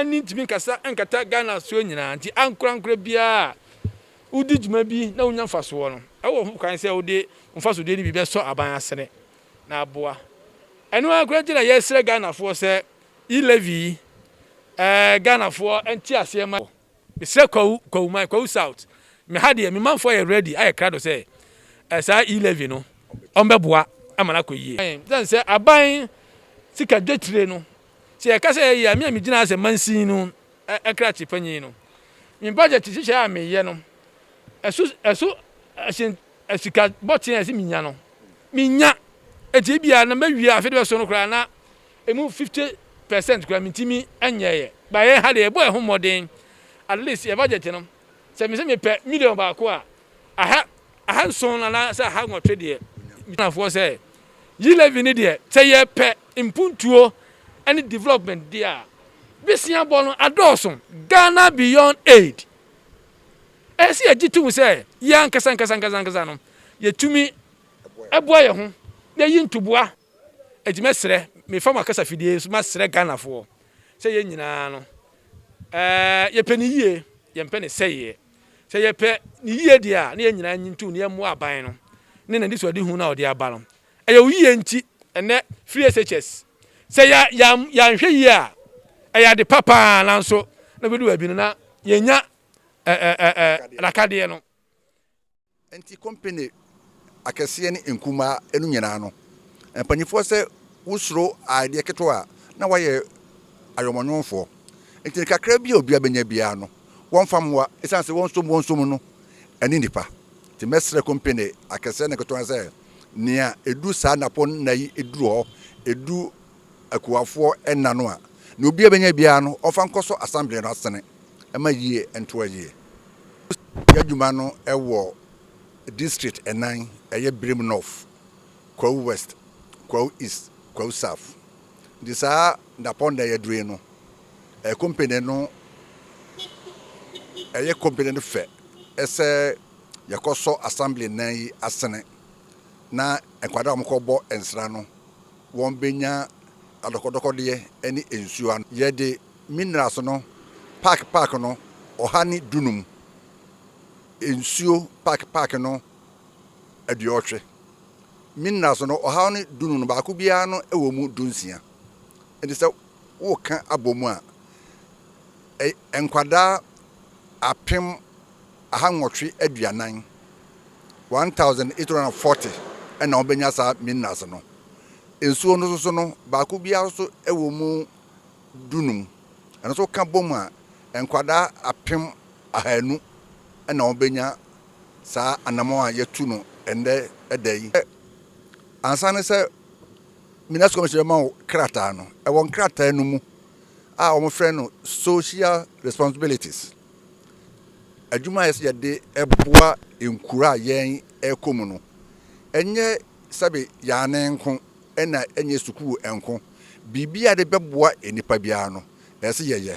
ne ntumi nkasa nkata Ghana soɔ nyinaa nti ankorankora biara a wodi dwuma bi na wonya mfasoɔ no ɛwɔ ho kwan sɛ wode mfasodeɛ no bi bɛsɔ aban asene na aboa ɛno ara koraa nti na yɛsrɛ Ghanafoɔ sɛ e-levy yi ɛɛ Ghanafoɔ nte aseɛ ma Mesrɛ Kwawu Kwawu man Kwawu South me ha deɛ me manfoɔ yɛ ready ayɛ krado sɛ eh, saa E levy no ɔmbɛboa ama no akɔ yie. Ɛsiane sɛ aban sika dwetire no sɛ yɛka sɛ ɛyɛ yie a me a me gyina ha sɛ mansin no krakye panyin no me budget nhyehyɛɛ a meyɛ no ɛso ɛso ɛsen sika bɔten a ɛsɛ me nya no me nya enti ebia na mawie a afe de bɛso no koraa na Emu fifty percent koraa mintumi nyɛeɛ. But yɛn ha deɛ yɛbɔ yɛn ho mmɔden. At least yɛn budget no, sɛ mese mepɛ million baako a, aha ahanson anaasɛ aha nwɔtwe deɛ, Ghanafoɔ sɛ, Yi levy no deɛ, sɛ yɛpɛ mpuntuo ne development deɛ a, besiabɔ no adɔɔso. Ghana beyond aid. Ɛsɛ sɛ yɛgye tom sɛ, yɛn ankasa ankasa ankasa ankasa no, yɛtumi boa yɛn ho na yɛyi ntoboa. Enti mɛsrɛ, mefa mo akasafidie yi so masrɛ Ghanafoɔ sɛ yɛn nyinaa no yɛpɛ ne yie, yɛmpɛ ne sɛeɛ. Sɛ yɛpɛ ne yie deɛ a, na yɛn nyinaa nyi ntom na yɛmmoa aban no ne n'anisoadehu no a ɔde aba no. Ɛyɛ wo yie nti ɛnnɛ free SHS. Sɛ yɛanhwɛ yie a, ɛyɛ ade pa pa ara nanso na ɛbɛdu baabi no na yɛnnya nakadeɛ no. Enti kompene akɛseɛ ne nkumaa no nyinaa no, mpanimfoɔ sɛ wosuro adeɛ ketewa a, na wɔayɛ ayɔmɔnwomfoɔ. Enti no kakra bi a obiara bɛnya biara no, wɔmfa mmoa, ɛsiane sɛ wɔn nso wɔn som no ne nnipa. Enti mɛsrɛ kompene akɛseɛ ne nketewa sɛ, nea ɛduru saa nnapɔnna yi duru hɔ, ɛduru akuwafoɔ nna no a, deɛ obiara bɛnya biara no, ɔmfa nkɔ so asambleɛ no asene ma yie ntoa yie. Yɛ adwuma no wɔ district nnan, ɛyɛ Birim North, Kwahu West, Kwahu East, Kwahu South. Nti saa dapɔn da yɛaduru yi no, ɛyɛ company no ɛyɛ company no fɛ sɛ yɛkɔsɔ assembly nnan yi asene na nkwadaa a wɔkɔbɔ nsra no wɔbɛnya adɔkɔdɔkɔdeɛ ne nsuo ano. Yɛde minerals no paake paake no ɔha ne dunum, nsuo paake paake no aduɔtwe. Minerals no ɔha ne dunum no, baako biara no wɔ mu dunsia. Nti sɛ woka abɔ mu a, nkwadaa apem aha nwɔtwe aduanan, 1,840, na wɔbɛnya saa minerals no. Nsuo no nso no, baako biara nso wɔ mu dunum. Ɛno nso woka bom a, nkwadaa apem ahanu na wɔbɛnya saa anamɔn a yɛatu no ɛnnɛ da yi. Ansa ne sɛ Minerals Commission bɛma wo krataa no, ɛwɔ nkrataa no mu a wɔfrɛ no Social Responsibilities. adwuma a ɛsɛ sɛ yɛde boa nkuro a yɛrekɔ mu no, ɛnyɛ sɛbe yɛn anan nko, ɛna ɛnyɛ sukuu nko. Biribiara a yɛde bɛboa nnipa biara no, ɛsɛ sɛ yɛyɛ.